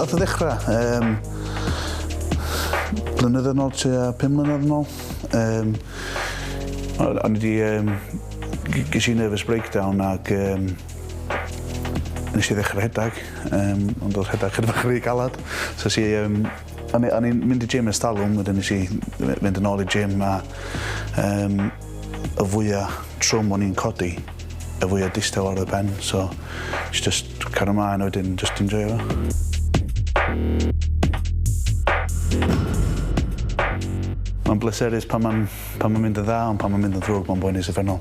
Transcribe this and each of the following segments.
Nath o ddechrau, um, blynedd yn ôl, tua 5 mlynedd yn ôl. Um, o'n i wedi, um, ges i nervous breakdown ac um, Nes i ddechrau rhedeg, um, ond oedd rhedeg chyda bach rhy galad. So nes i, um, o'n i'n mynd i gym yn stalwm, wedyn nes i fynd yn ôl i gym a um, y fwyaf trwm o'n i'n codi, y fwyaf distaw ar y pen. So nes i just cario maen wedyn, just enjoy fo. Mae'n bleserus pan mae'n ma mynd yn dda, ond pan mae'n mynd yn ddrwg, mae'n boenus effennol.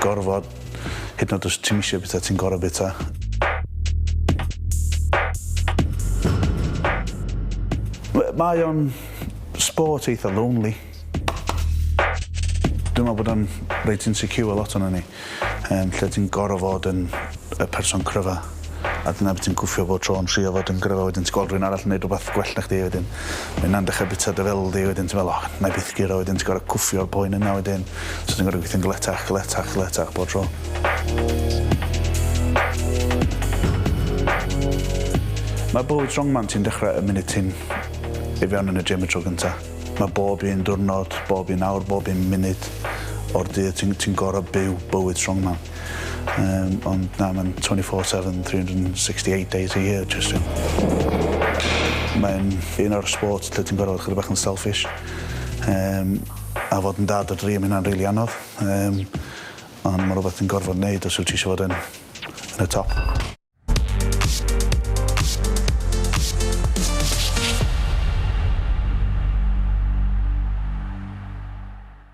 Gorfod. Hyd yn oed os ti'm isio bita, ti'n gorfod bita. Mae o'n sport eitha lonely. Dwi'n meddwl bod o'n reit insecure lot o'n ni. Um, lle ti'n gorfod fod yn y person cryfa. a dyna be' ti'n gwffio bob tro yn trio fod yn gryfach wedyn ti'n gweld rywun arall yn neud rwbath gwell na chdi a wedyn ma' ynna'n dechre bita dy feddwl di wedyn ti'n me'wl o 'nai byth guro wedyn ti gor'o' cwffio'r poen yna wedyn so ti'n gor'o' gweithio'n galetach galetach galetach bob tro. Ma' bywyd strongman ti'n dechre y munud ti'n i fewn yn y gym y tro gynta. Ma' bob un diwrnod bob un awr bob un munud o'r dydd ti'n ti'n gor'o' byw bywyd strongman. Um, ond na, mae'n 24-7, 368 days a year, just yn... Mae'n un o'r sport lle ti'n gorfod chyd bach yn selfish. Um, a fod yn dad o dri am hynna'n rili really anodd. Um, ond mae rhywbeth yn gorfod wneud os wyt ti eisiau fod yn, yn y top.